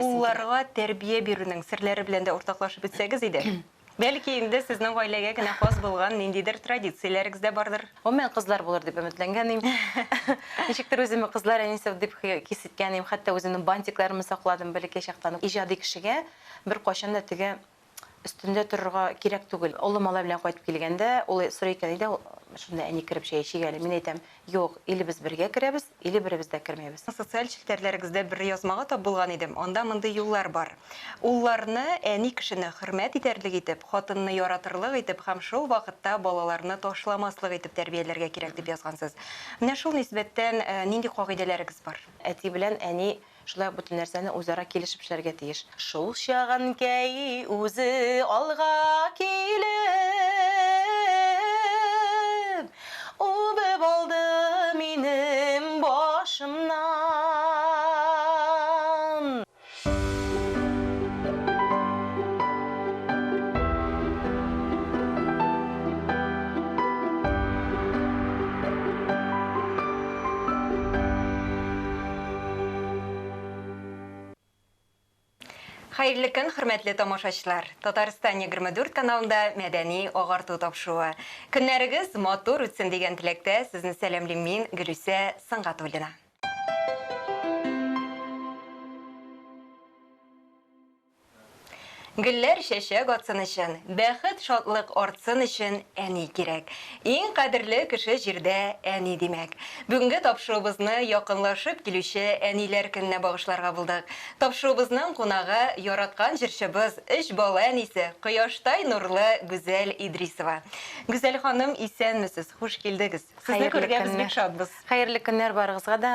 Улларга тәрбия бирүнең серләре белән дә уртаклашып үтсәгез иде. Бәлки инде сезнең гаиләгә генә хас булган ниндидер традицияләрегез дә бардыр? Гомумән, кызлар булыр дип өметләнгән идем. Ничектер үземне кызлар әнисе дип хис иткән идем, хәтта үземнең бантикларымны сакладым бәләкәй чактан ук. Иҗади кешегә беркайчан да теге өстендә торырга кирәк түгел. Олы малай белән кайтып килгәндә, ул сорый икән, Әйдә, шунда әни кереп чәй эчик әле. Мин әйтәм, Юк, или без бергә керәбез, или беребез дә кермибез. Социаль челтәрләрегездә бер язмага тап булган идем, анда мондый юллар бар, Улларны әни кешене хөрмәт итәрлек итеп, хатынны яратырлык итеп һәм шул вакытта балаларны ташламаслык итеп тәрбияләргә кирәк, дип язгансыз. Менә шул нисбәттән нинди кагыйдәләрегез бар? Әти белән әни Шулай ук бөтен нәрсәне үзара килешеп эшләргә тиеш. Шул чак Әнкәй үзе алга килеп, үбеп алды минем башымнан. Хәерле көн, хөрмәтле тамашачылар! Татарстан 24 каналында мәдәни агарту тапшыруы. Көннәрегез матур үтсен дигән теләктә сезне сәламлим мин, Гөлүсә Сынгатуллина. Гөлләр чәчәк атсын өчен, бәхет, шатлык артсын өчен әни кирәк. Иң кадерле кеше җирдә әни, димәк. Бүгенге тапшыруыбызны якынлашып килүче Әниләр көненә багышларга булдык. Тапшыруыбызның кунагы, яраткан җырчыбыз, өч бала әнисе, кояштай нурлы Гүзәл Идрисова. Гүзәл ханым, исәнмесез, хуш килдегез! Сезне күрергә без бик шатбыз. Хәерле көннәр барыгызга да.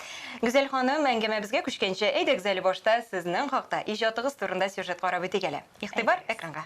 Гүзәл ханым, әңгәмәбезгә күчкәнче, әйдәгез әле башта сезнең хакта, иҗатыгыз турында сюжет карап үтик әле. Игътибар, экранга!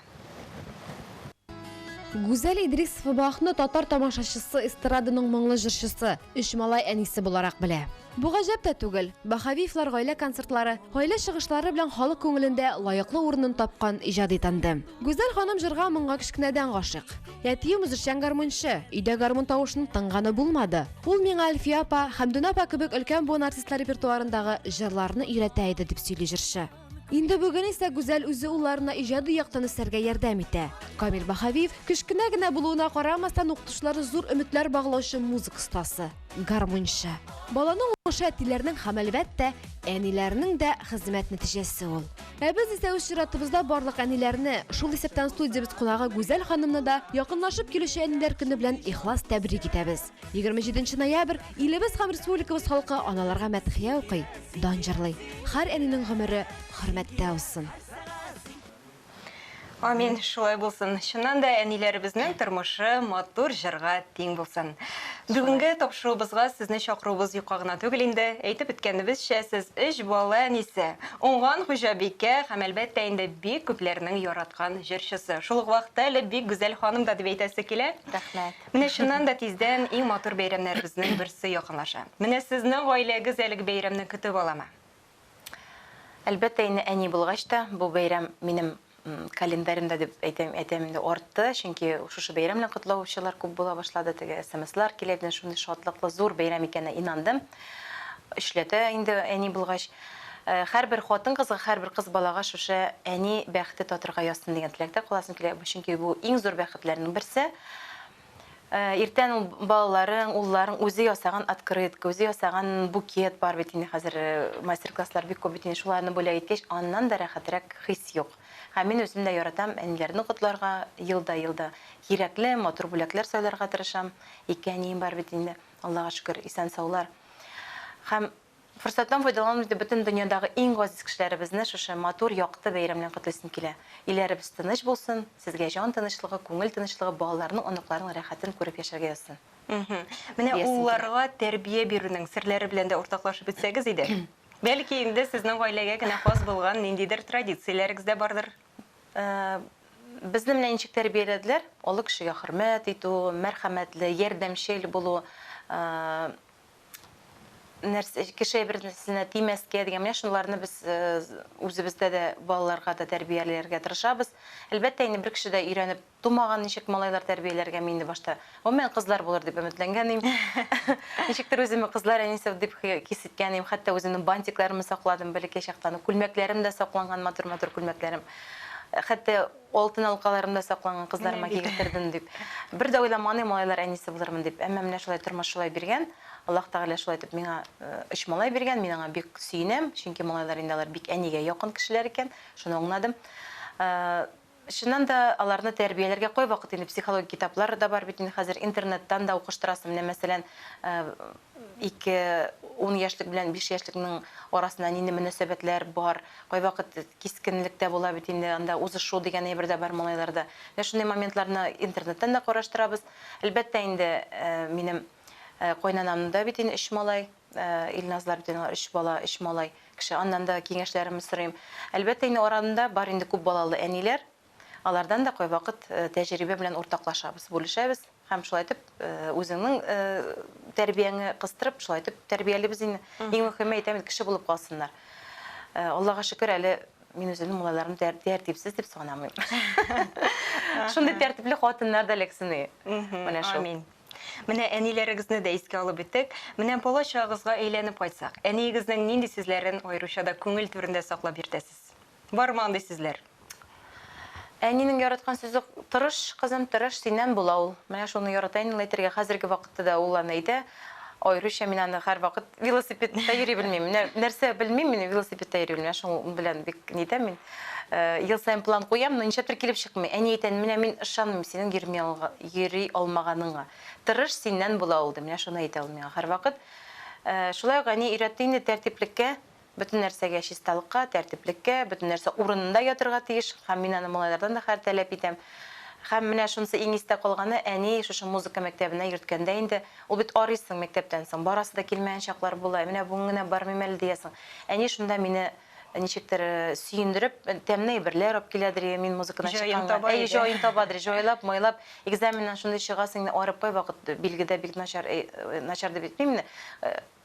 Гүзәл Идрисова Бахны татар тамашачысы эстраданың моңлы җырчысы, өч малай әнисе буларак белә. Бу гаҗәп тә түгел, Баһавиевлар гаилә концертлары, гаилә чыгышлары белән халык күңелендә лаеклы урынын тапкан иҗади тандем. Гүзәл ханым җырга-моңга кечкенәдән гашыйк. Әтием үзешчән гармунчы, өйдә гармун тавышын тыңганы булмады. Ул миңа Әлфия апа, Хәмдүнә апа кебек өлкән буын артистлары репертуарындагы җырларны өйрәтә иде, дип сөйли җырчы. Инде бүген исә Гүзәл үзе улларына иҗади яктан үсәргә ярдәм итә. Камил Баһавиев, кечкенә генә булуына карамастан, укытучылары зур өметләр баглаучы музыка остасы. гармунчы. Баланың уңышы әтиләрнең һәм, әлбәттә, әниләрнең дә хезмәт нәтиҗәсе ул. Ә без исә үз чиратыбызда барлык әниләрне, шул исәптән студиябез кунагы Гүзәл ханымны да якынлашып килүче Әниләр көне белән ихлас тәбрик итәбез. 27 ноябрь, илебез һәм республикабыз халкы аналарга мәдхия укый, дан җырлый. Һәр әнинең гомере хөрмәттә узсын! Амин, шулай булсын. Чыннан да әниләребезнең тормышы матур җырга тиң булсын. Бүгенге тапшыруыбызга сезне чакыруыбыз юкка гына түгел инде. Әйтеп үткәнебезчә, сез өч бала әнисе, уңган хуҗабикә һәм әлбәттә инде бик күпләрнең яраткан җырчысы. Шул ук вакытта әле бик гүзәл ханым да дип әйтәсе килә. Рәхмәт. Менә чыннан да тиздән иң матур бәйрәмнәребезнең берсе якынлаша. Менә сезнең гаиләгез әлеге бәйрәмне көтеп аламы? Әлбәттә инде әни булгач та бу бәйрәм минем календаремда дип әйтәм, әйтәм инде артты, чөнки шушы бәйрәм белән котлаучылар күп була башлады, теге смслар килә, менә шундый шатлыклы зур бәйрәм икәненә инандым. Эшләтә инде әни булгач, э, һәрбер хатын-кызга, һәрбер кыз балага шушы әни бәхете татырга язсын дигән теләктә каласым килә, чөнки бу иң зур бәхетләрнең берсе. Иртән ул балаларың, улларың үзе ясаган открытка, үзе ясаган букет бар бит инде хәзер мастер-класслар бик күп бит инде шуларны бүләк иткәч, аннан да рәхәтрәк хис юк. Һәм мин үзем дә яратам әниләрне котларга, елда-елда кирәкле, матур бүләкләр сайларга тырышам. Ике әнием бар бит инде, Аллага шөкер, исән-саулар. Һәм Форсаттан файдаланып инде бөтен дөньядагы иң газиз кешеләребезне шушы матур, якты бәйрәм белән котлыйсым килә. Илләребез тыныч булсын, сезгә җан тынычлыгы, күңел тынычлыгы, балаларның, оныкларның рәхәтен күреп яшәргә язсын. Мхм. Менә Диясем килә. улларга тәрбия бирүнең серләре белән дә уртаклашып үтсәгез иде. Бәлки инде сезнең гаиләгә генә хас булган ниндидер традицияләрегез дә бардыр? Э, безне менә ничек тәрбияләделәр, олы кешегә хөрмәт итү, мәрхәмәтле, ярдәмчел булу, э, нәрсә кеше әйберенә тимәскә дигән менә шуларны без үзебездә дә балаларга да тәрбияләргә тырышабыз. Әлбәттә, инде бер кеше дә өйрәнеп тумаган, ничек малайлар тәрбияләргә мин инде башта гомумән кызлар булыр дип өметләнгән идем. Ничектер үземне кызлар әнисе дип хис иткән идем, хәтта үземнең бантикларымны сакладым бәләкәй чактан, күлмәкләрем дә сакланган, матур-матур күлмәкләрем. Хәтта Алтын алкаларымда сакланган кызларыма кигезтердем дип. Бер дә уйламаган идем, малайлар әнисе булырмын дип. Әмма менә шулай тормыш шулай биргән. Аллаһ Тәгалә шулай итеп миңа өч малай биргән. Мин аңа бик сөенәм, чөнки малайлар инде алар бик әнигә якын кешеләр икән, шуны аңладым. Чыннан да, аларны тәрбияләргә кайвакыт инде психологик китаплар да бар бит инде хәзер, интернеттан да укыштырасың. Менә мәсәлән, ике ун яшьлек белән биш яшьлекнең арасында нинди мөнәсәбәтләр бар, кайвакыт кискенлек тә була бит инде, анда узышу дигән әйбер дә бар малайларда. Менә шундый моментларны интернеттан да караштырабыз. Әлбәттә инде, минем кайнанамның да бит инде өч малай, Илназлар бит инде алар өч бала, өч малай кеше, аннан да киңәшләремне сорыйм. Әлбәттә инде арада бар инде күп балалы әниләр, Алардан да кайвакыт тәҗрибә белән уртаклашабыз, бүлешәбез һәм шулай итеп үзеңнең тәрбияңне кыстырып, шулай итеп тәрбиялибез инде. Иң мөһиме әйтәм, кеше булып калсыннар. Аллага шөкер, әле мин үземнең малайларым тәртипсез дип санамыйм. Шундый тәртипле хатыннар да эләксен. Менә шул. Амин. Менә әниләрегезне дә искә алып үттек. Менә бала чагыгызга әйләнеп кайтсак, әниегезнең нинди сүзләрен аеруча да күңел түрендә саклап йөртәсез? Бармы андый сүзләр? Әнинең яраткан сүзе Тырыш, кызым, тырыш, синнән була ул. Менә шуны ярата инде ул әйтергә. Хәзерге вакытта да ул аны әйтә. Аеруча мин аны һәрвакыт велосипедта йөри белмим. Нәрсә белмим, мин велосипедта йөри белмим. Шуның белән бик нитәм мин. Ел саен план куям, но нишләптер килеп чыкмый. Әни әйтә, менә мин ышанмыйм синең йөрми йөри алмаганыңа. Тырыш, синнән була ул, ди. Менә шуны әйтә ул миңа һәрвакыт. Шулай ук әни өйрәтте инде тәртиплеккә. Бөтен нәрсәгә чисталыкка, тәртиплеккә, бөтен нәрсә урынында ятырга тиеш һәм мин аны малайлардан да хәер тәләп итәм. Һәм менә шунысы иң истә калганы, әни шушы музыка мәктәбенә йөрткәндә инде, ул бит арыйсың мәктәптән соң, барасы да килмәгән чаклар була, ә менә бүген генә бармыйм әле диясең. Әни шунда мине ничектер сөендереп, тәмле әйберләр алып киләдер, йә мин музыкадан Җаен чыкканга, таба әйе, иде. җаен табадыр, җайлап, майлап, экзаменнан шундый чыгасың, инде арып кай вакыт, билге дә бик начар, әй, начар дип әйтмим, менә,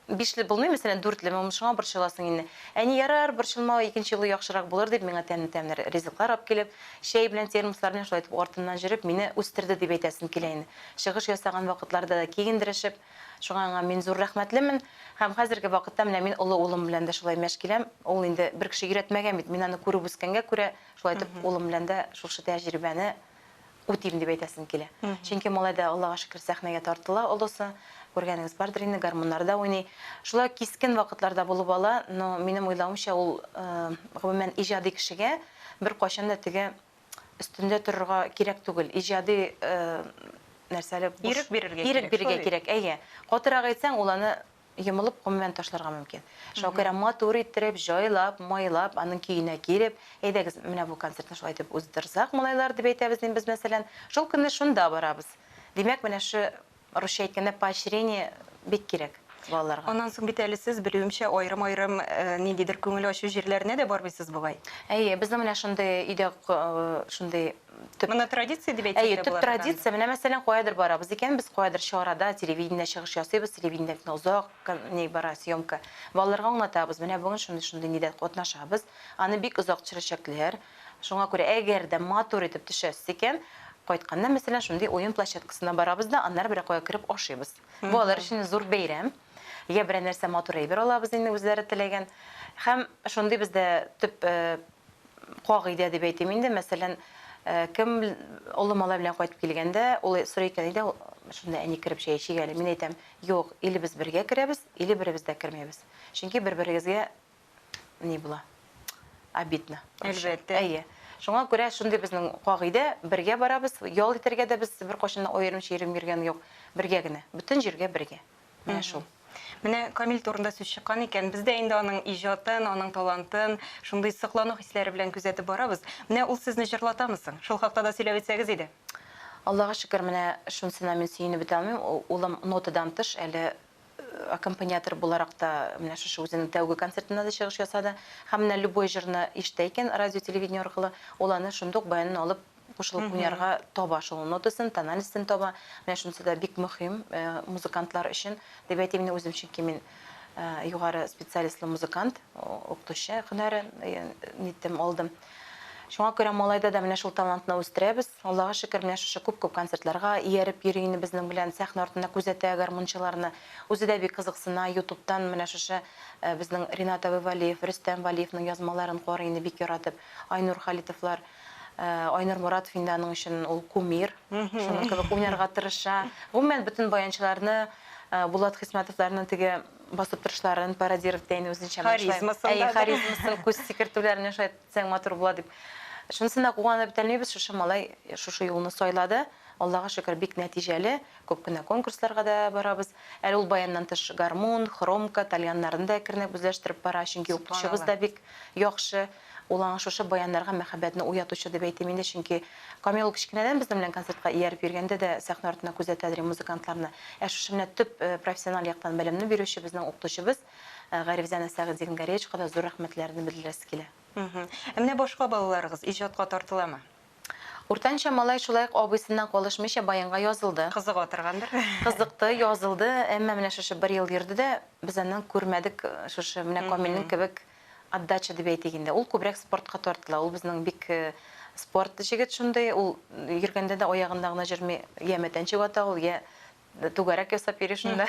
Бишле булмый, мәсәлән, дүртлеме, ун шуңа борчыласың инде. Әни, ярар, борчылма, икенче юлы яхшырак булыр, дип, миңа тәмле-тәмле ризыклар алып килеп, чәй белән термослар белән шулай итеп артыннан җөреп, мине үстерде, дип әйтәсем килә инде. Чыгыш ясаган вакытларда да киендерешеп. Шуңа аңа мин зур рәхмәтлемен. Һәм хәзерге вакытта менә мин олы улым белән дә шулай мәш киләм. Ул инде бер кеше өйрәтмәгән бит, мин аны күреп үскәнгә күрә, шулай итеп улым белән дә шушы тәҗрибәне үтим дип әйтәсем килә. Чөнки малай да, Аллага шөкер, сәхнәгә тартыла, олысы. Күргәнегез бардыр инде, гармуннарда уйный. Шулай кискен вакытлар да булып ала, но минем уйлавымча, ул, гомумән, иҗади кешегә беркайчан да теге өстендә торырга кирәк түгел. Иҗади, нәрсәле, буш. Ирек бирергә кирәк. Ирек бирергә кирәк, әйе. Катырак әйтсәң, ул аны Йомылып, гомумән, ташларга мөмкин. Шакира матур иттереп, җайлап, майлап, аның көенә килеп, әйдәгез, менә бу концертны шулай итеп уздырсак, малайлар, дип әйтәбез инде без, мәсәлән. Шул көнне шунда барабыз. Димәк, менә шу, русча әйткәндә, поощрение бик кирәк балаларга. Аннан соң бит әле сез, белүемчә, аерым-аерым ниндидер күңел ачу җирләренә дә бармыйсыз бугай? Әйе, безнең менә шундый өйдә, шундый Төп. Моны традиция дип әйтсәк Әйе, тә төп була торган. традиция, менә мәсәлән, каядыр барабыз икән, без каядыр чарада телевидение чыгыш ясыйбыз, телевидение бит озак кон- ни бара, съемка. Балаларга аңлатабыз, менә бүген шундый-шундый нидә катнашабыз, аны бик озак төшерәчәкләр. Шуңа күрә, әгәр дә матур итеп төшәсез икән, кайтканда, мәсәлән, шундый уен площадкасына барабыз да, аннары берәр кая кереп ашыйбыз. Бу алар өчен зур бәйрәм. Я берәр нәрсә матур әйбер алабыз инде үзләре теләгән. Һәм шундый бездә төп э, кагыйдә дип әйтим инде, мәсәлән, кем олы малай белән кайтып килгәндә, ул сорый икән өйдә, шунда әни кереп чәй эчик әле. Мин әйтәм, юк, или без бергә керәбез, или беребез дә кермәбез. Чөнки бер-берегезгә ни була? Обидно. Әлбәттә. Әйе. Шуңа күрә шундый безнең кагыйдә, бергә барабыз, ял итәргә дә без беркайчан да аерым-чирем йөргән юк, бергә генә, бөтен җиргә бергә. Менә шул. Менә Камил турында сүз чыккан икән, без дә инде аның иҗатын, аның талантын шундый соклану хисләре белән күзәтеп барабыз. Менә ул сезне җырлатамы соң? Шул хакта да сөйләп үтсәгез иде. Аллага шөкер, менә шунсына мин сөенеп бетә алмыйм. Улым нотадан тыш әле аккомпаниатор буларак та менә шушы үзенең тәүге концертында да чыгыш ясады. Һәм менә любой җырны ишетә икән радио-телевидение аркылы, ул аны шундук баянын алып кушылып уйнарга таба шул нотасын, тоналистен таба. Менә шунысы да бик мөһим музыкантлар өчен, дип әйтим мин үзем, чөнки мин югары специалистлы музыкант, укытучы һөнәре ниттем, алдым. Шуңа күрә малайда да менә шул талантны үстерәбез. Аллага шөкер, менә шушы күп-күп концертларга ияреп йөри инде безнең белән, сәхнә артында күзәтә гармунчыларны. Үзе дә бик кызыксына, ютубтан менә шушы безнең Ринат абый Вәлиев, Рөстәм Вәлиевнең язмаларын карый инде бик яратып, Айнур Халитовлар. Айнур Моратов инде аның өчен ул кумир. Шуның кебек уйнарга тырыша. Гомумән, бөтен баянчыларны, Булат Хисмәтовларны теге басып торышларын пародировать итә инде үзенчә. Харизмасын да. Харизмасын, күз сикертүләр менә шулай итсәң матур була дип. Шунысына да куанып бетә алмыйбыз, шушы малай шушы юлны сайлады. Аллага шөкер, бик нәтиҗәле. Күп кенә конкурсларга да барабыз. Әле ул баяннан тыш гармун, хромка, тальяннарны да әкренләп үзләштереп бара, чөнки укытучыбыз да бик яхшы. Ул аңа шушы баяннарга мәхәббәтне уятучы дип әйтим инде, чөнки Камил ул кечкенәдән безнең белән концертка ияреп йөргәндә дә сәхнә артында күзәтә дери музыкантларны. Ә шушы менә төп профессиональ яктан белемне бирүче безнең укытучыбыз Гарифзанә Сәгыйтзигнгаревичка да зур рәхмәтләрне белдерәсе килә. Ә менә башка балаларыгыз иҗатка тартыламы? Уртанчы малай шулай ук абыйсыннан калышмыйча баянга язылды. Кызыга торгандыр? Кызыкты, язылды, әмма менә шушы бер ел йөрде дә, без аннан күрмәдек шушы менә Камилнең кебек Отдача дип әйтик инде. Ул күбрәк спортка тартыла. Ул безнең бик спорт җегет шундый. Ул йөргәндә дә аягында гына җөрми. Я мәтәнчек ата ул, я түгәрәк ясап йөри шунда.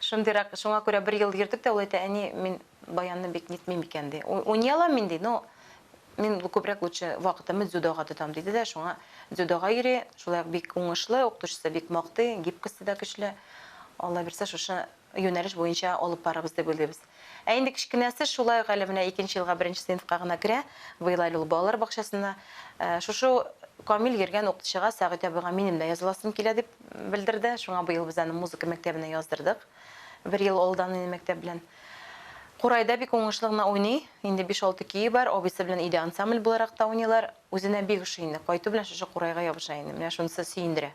Шундыйрак. Шуңа күрә бер ел йөрдек тә, ул әйтә, әни, мин баянны бик нитмим икән, ди. Уйный алам мин, ди, но мин күбрәк лучше вакытымны дзюдога тотам, диде дә, шуңа дзюдога йөри. Шулай ук бик уңышлы, укытучысы бик мактый, гибкосте дә көчле. Алла бирсә, шушы юнәлеш буенча алып барырбыз дип уйлыйбыз. Ә инде кечкенәсе шулай ук әле менә икенче елга беренче сыйныфка гына керә, быел әле ул балалар бакчасында. Шушы Камил йөргән укытучыга, Сәгыйть абыйга минем дә языласым килә, дип белдерде. Шуңа быел без аны музыка мәктәбенә яздырдык. Бер ел алдан инде мәктәп белән. Курайда бик уңышлы гына уйный. Инде биш-алты көе бар, абыйсы белән өйдә ансамбль буларак та уйныйлар. Үзенә бик ошый инде, кайту белән шушы курайга ябыша инде. Менә шунысы сөендерә.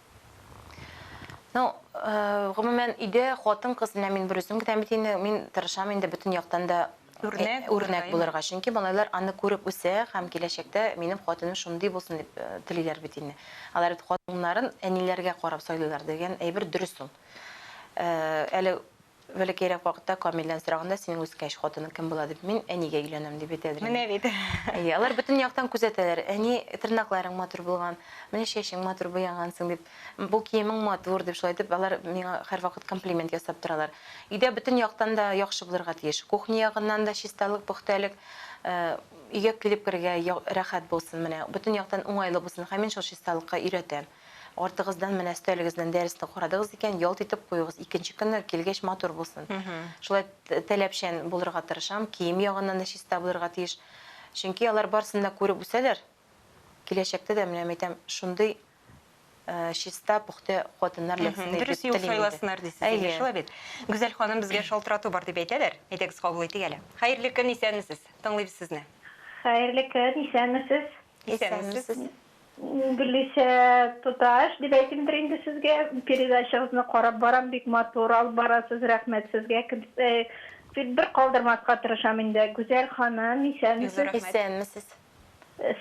Ну, гомумән, өйдә хатын-кыз, менә мин берүзем генә бит инде, мин тырышам инде бөтен яктан да үрнәк, үрнәк булырга. Чөнки малайлар аны күреп үсә һәм киләчәктә минем хатыным шундый булсын дип телиләр бит инде. Алар бит хатыннарын әниләргә карап сайлыйлар дигән әйбер дөрес ул. Әле Бәләкәйрәк вакытта Камилдән сораганда, синең үскәч, хатының кем була дип, мин әнигә өйләнәм, дип әйтә Әдринә. Менә бит. Әйе, алар бөтен яктан күзәтәләр. Әни, тырнакларың матур булган, менә чәчең матур буягансың, дип, бу киемең матур, дип, шулай итеп, алар миңа һәрвакыт комплимент ясап торалар. Өйдә бөтен яктан да яхшы булырга тиеш. Кухня ягыннан да чисталык, пөхтәлек, өйгә килеп керергә рәхәт булсын, менә, бөтен яктан уңайлы булсын. Һәм мин шул чисталыкка өйрәтәм. Артыгыздан менә өстәлегездән дәресне карадыгыз икән, ялт итеп куегыз. Икенче көнне килгәч матур булсын. Шулай таләпчән булырга тырышам. Кием ягыннан да чиста булырга тиеш. Чөнки алар барысын да күреп үсәләр. Киләчәктә дә менә әйтәм, шундый чиста, пөхтә хатыннар эләксен дип телим. Дөрес юл сайласыннар дисез инде, шулай бит. Гүзәл ханым, безгә шалтырату бар дип әйтәләр. Әйдәгез, кабул итик әле. Хәерле көн, исәнмесез. Тыңлыйбыз сезне. Хәерле көн, исәнмесез. Исәнмесез. Гөлисә туташ, дип әйтимдер инде сезгә, передачагызны карап барам, бик матур алып барасыз, рәхмәт сезгә, тик бер калдырмаска тырышам инде, Гүзәл ханым, исәнмесез? Исәнмесез.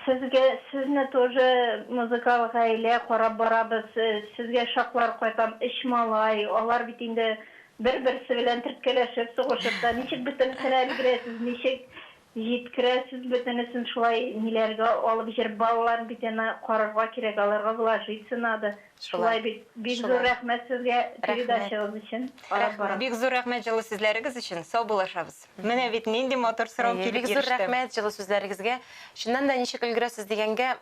Сезгә, сезне тоже музыкаль гаилә карап барабыз, сезгә шаклар кайтам, өч малай, алар бит инде бер-берсе белән теркәләшеп, сугышып та, ничек бөтенесенә өлгерәсез, ничек Җиткерәсез бөтенесен шулай ниләргә алып җыр балаларын бит әнә карарга кирәк аларга вложиться надо шулай бит бик зур рәхмәт сезгә передачагыз өчен карап барам. Бик зур рәхмәт җылы сүзләрегез өчен, саубуллашабыз. Менә бит нинди матур сорау килеп иреште. Бик зур рәхмәт җылы сүзләрегезгә. Чыннан да ничек өлгерәсез дигәнгә,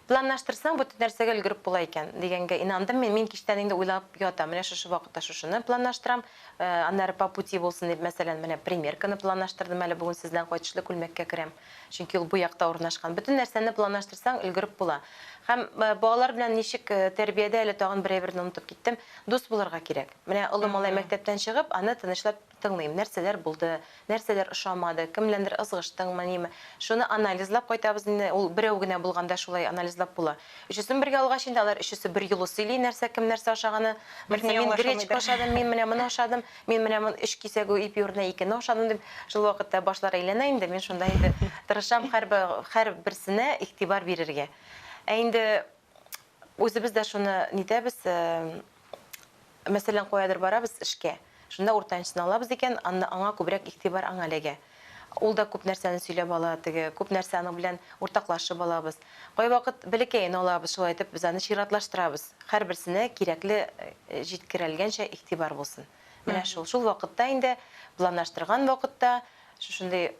Планлаштырсаң, бөтен нәрсәгә өлгереп була икән, дигәнгә инандым мин. Мин кичтән инде уйлап ятам, менә шушы вакытта шушыны планлаштырам, аннары по пути булсын дип, мәсәлән, менә примерканы планлаштырдым әле, бүген сездән кайтышлый күлмәккә керәм, чөнки ул бу якта урнашкан. Бөтен нәрсәне планлаштырсаң, өлгереп була. Һәм балалар белән ничек, тәрбиядә әле тагын бер әйберне онытып киттем, дус булырга кирәк. Менә олы малай мәктәптән чыгып, аны тынычлап Тыңлыйм, нәрсәләр булды, нәрсәләр ошамады, кем беләндер ызгыштыңмы, ниме. Шуны анализлап кайтабыз инде, ул берәү генә булганда шулай анализлап була. Өчесен бергә алгач инде, алар өчесе берьюлы сөйли, нәрсә кем нәрсә ашаганы. Берсе, мин гречка ашадым, мин менә моны ашадым, мин менә моны өч кисәк ипи урынына икене ашадым, дип. Шул вакытта башлар әйләнә инде, мин шунда инде тырышам һәрберсенә игътибар бирергә. Ә инде Үзебез дә шуны нитәбез, мәсәлән, каядыр барабыз эшкә. Шунда уртанчыны алабыз икән, анда аңа күбрәк игътибар аңа эләгә. Ул да күп нәрсәне сөйләп ала, теге, күп нәрсә аның белән уртаклашып алабыз. Кайвакыт бәләкәен алабыз, шулай итеп, без аны чиратлаштырабыз. Һәрберсенә кирәкле җиткерелгәнчә игътибар булсын. Менә шул. Шул вакытта инде планлаштырган вакытта шушындый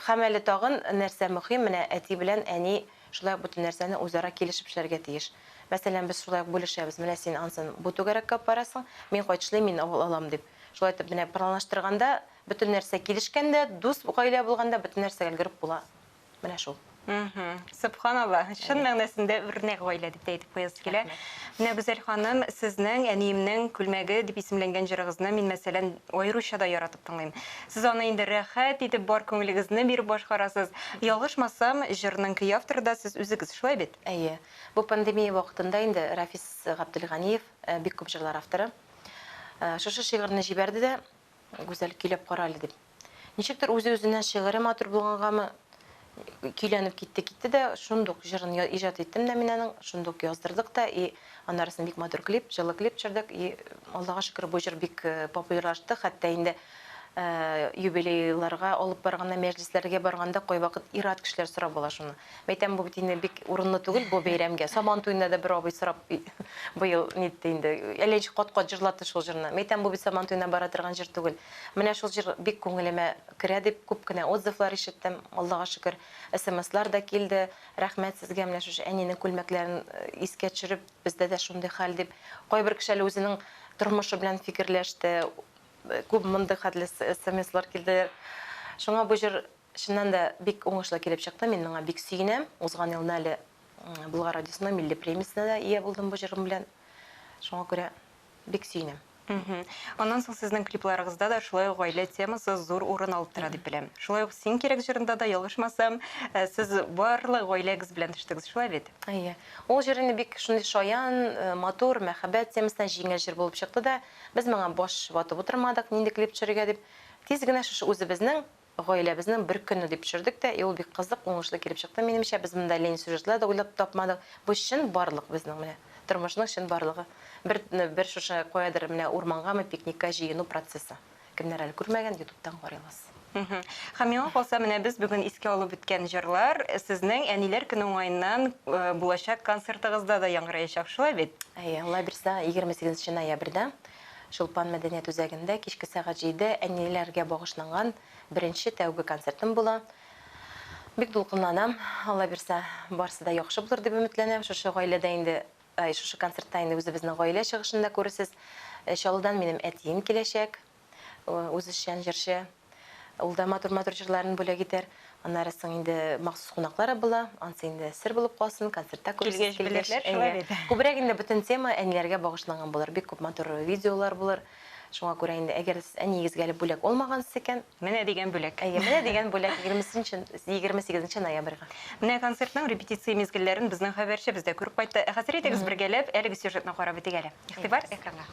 Һәм әле тагын нәрсә мөһим, менә әти белән әни шулай ук бөтен нәрсәне үзара килешеп эшләргә тиеш. Мәсәлән, без шулай ук бүлешәбез, менә син ансын бу түгәрәккә алып барасың, мин кайтышлый мин ул алам дип. Шулай итеп, менә планлаштырганда, бөтен нәрсә килешкәндә, дус гаилә булганда бөтен нәрсәгә өлгереп була. Менә шул. Сөбханалла, чын мәгънәсендә үрнәк гаилә дип тә әйтеп куясы килә. Менә Гүзәл ханым, сезнең Әниемнең күлмәге дип исемләнгән җырыгызны мин, мәсәлән, аеруча да яратып тыңлыйм. Сез аны инде рәхәт итеп бар күңелегезне биреп башкарасыз. Ялгышмасам, җырның көй авторы да сез үзегез, шулай бит? Әйе. Бу пандемия вакытында инде Рафис Габделганиев, бик күп җырлар авторы, шушы шигырьне җибәрде дә, Гүзәл, көйләп кара әле, дип. Ничектер үзе-үзенә шигыре матур булгангамы, көйләнеп китте, китте дә, шундук җырын я- иҗат иттем дә мин аның, шундук яздырдык та, и аннарысын бик матур клип, җылы клип төшердек, и Аллага шөкер, бу җыр бик э, популярлашты, хәтта инде э, юбилейларга алып барганда, мәҗлесләргә барганда кайвакыт ир-ат кешеләр сорап ала шуны. Мәйтәм, бу бит инде бик урынлы түгел бу бәйрәмгә. Сабан туенда да бер абый сорап быел нитте инде. Әллә ничек кат-кат җырлатты шул җырны. Мәйтәм, бу бит Сабан туена бара торган җыр түгел. Менә шул җыр бик күңелемә керә, дип күп кенә отзывлар ишеттем. Аллага шөкер, смслар да килде. Рәхмәт сезгә, менә шушы әнинең күлмәкләрен искә төшереп, бездә дә шундый хәл дип. Кайбер кеше әле үзенең тормышы белән фикерләште. Күп мондый хәтле смслар килделәр. Шуңа бу җыр Чыннан да бик уңышлы килеп чыкты, мин моңа бик сөенәм. Узган елны әле Болгар радиосының милли премиясенә дә ия булдым бу җырым белән. Шуңа күрә бик сөенәм. Аннан соң сезнең клипларыгызда да шулай ук гаилә темасы зур урын алып тора дип беләм. Шулай ук Син кирәк җырында да, ялгышмасам, сез барлык гаиләгез белән төштегез, шулай бит? Әйе. Ул җыр инде бик шундый шаян, матур, мәхәббәт темасына җиңел җыр булып чыкты да, без моңа баш ватып утырмадык, нинди клип төшерергә дип. Тиз генә шушы үзебезнең Гаиләбезнең бер көне дип төшердек тә, и ул бик кызык, уңышлы килеп чыкты минемчә, без монда Ленин сюжетлар да уйлап тапмадык, бу чын барлык безнең менә, тормышның чын барлыгы, бер бер шушы каядыр менә урмангамы пикникка җыену процессы, кемнәр әле күрмәгән, ютубтан карыйлыз. Һәм миңа калса, менә без бүген искә алып үткән җырлар сезнең Әниләр көне уңаеннан булачак концертыгызда да яңгыраячак, шулай бит? Әйе, Алла бирсә, егерме сигезенче ноябрьдә. Чулпан мәдәният үзәгендә кичке сәгать җиде әниләргә багышланган беренче тәүге концертым була. Бик дулкынланам. Алла бирса, барсы да яхшы булыр дип өметләнәм. Шушы гаиләдә инде, ай, шушы концертта инде үзебезнең гаилә чыгышын да күрерсез. Чаллыдан минем әтием киләчәк. Үзешчән җырчы. Ул да матур-матур җырларын бүләк итәр. Аннары соң инде махсус кунаклар була. Ансы инде сер булып калсын, концертта күрерсез килгәч. Күбрәк инде бөтен тема әниләргә багышланган булыр. Бик күп матур видеолар булыр. Шуңа күрә инде, әгәр дә сез әниегезгә әле бүләк алмагансыз икән. Менә дигән бүләк. Әйе, менә дигән бүләк, егерме сигезенче ноябрьгә. Менә концертның репетиция мизгелләрен безнең хәбәрчебез дә күреп кайтты. Ә хәзер әйдәгез бергәләп әлеге сюжетны карап үтик әле. Игътибар экранга.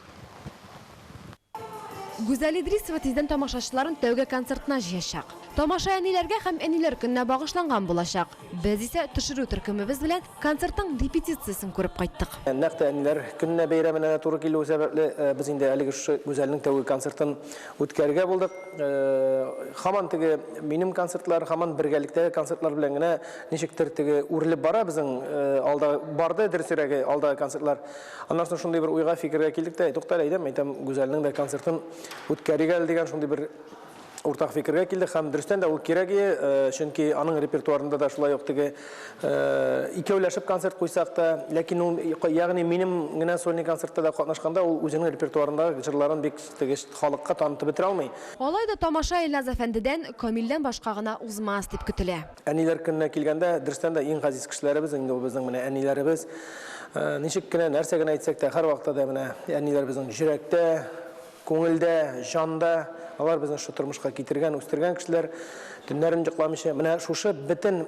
Гүзәл Идрисова тиздән тамашачыларын тәүге концертына җыячак. Тамаша әниләргә һәм Әниләр көненә багышланган булачак. Без исә төшерү төркемебез белән концертның репетициясен күреп кайттык. Нәкъ тә Әниләр көненә бәйрәменә дә туры килүе сәбәпле, без инде әлеге шушы Гүзәлнең тәүге концертын үткәрергә булдык. Һаман теге минем концертлар, һаман бергәлектәге концертлар белән генә ничектер теге үрелеп бара безнең алдагы, барды, дөресрәге, алдагы концертлар. Аннан соң шундый бер уйга, фикергә килдек тә, тукта әле, әйдәм, әйтәм, Гүзәлнең дә концертын үткәрик әле дигән шундый бер уртак фикергә килдек һәм дөрестән дә ул кирәк ие, э, чөнки аның репертуарында да шулай ук теге э, икәүләшеп концерт куйсак та, ләкин ул ягъни минем генә сольный концертта да катнашканда ул үзенең репертуарында җырларын бик теге халыкка танытып бетерә алмый. Алай да тамаша Илназ әфәндедән, Камилдән башка гына узмас дип көтелә. Әниләр көненә килгәндә, дөрестән дә иң газиз кешеләребез инде ул безнең менә әниләребез. Э, ничек кенә, нәрсә генә әйтсәк тә, һәрвакытта да менә әниләр безнең йөрәктә, күңелдә, җанда. Алар безне шу тормышка китергән, үстергән кешеләр. Төннәрен йокламыйча, менә шушы бөтен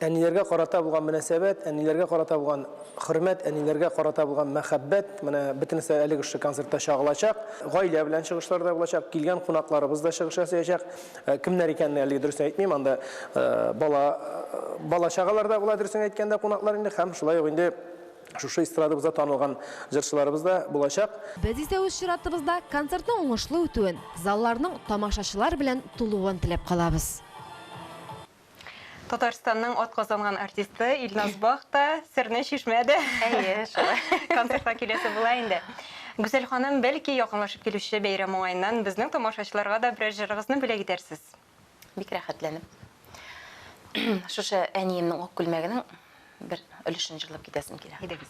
әниләргә карата булган мөнәсәбәт, әниләргә карата булган хөрмәт, әниләргә карата булган мәхәббәт, менә бөтенесе әлеге шушы концертта чагылачак. Гаилә белән чыгышлар да булачак, килгән кунакларыбыз да чыгыш ясаячак. Ә кемнәр икәнен әлеге дөресен әйтмим, анда бала, бала чагалар да була, дөресен әйткәндә, кунаклар инде һәм шулай ук инде шушы эстрадабызда танылган җырчыларыбыз да булачак. Без исә үз чиратыбызда концертның уңышлы үтүен, залларның тамашачылар белән тулуын теләп калабыз. Татарстанның атказанган артисты Илназ Бах та серне чишмәде. Әйе, шулай. Концертка киләсе була инде. Гүзәл ханым, бәлки якынлашып килүче бәйрәм уңаеннан безнең тамашачыларга да берәр җырыгызны бүләк итәрсез? Бик рәхәтләнеп. Шушы әниемнең ак күлмәгенең бер өлешен җырлап китәсем килә. Әйдәгез.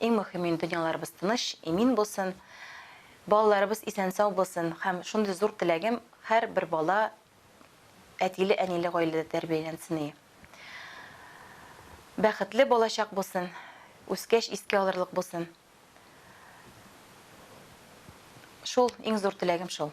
Иң мөхимен дөньяларыбыз тыныч, имин булсын, балаларыбыз исән-сау булсын һәм шундый зур теләгем һәр бер бала әтиле, әниле гаиләдә тәрбияләнсен и. Бәхетле балачак булсын, үскәч искә алырлык булсын. Шул иң зур теләгем шул.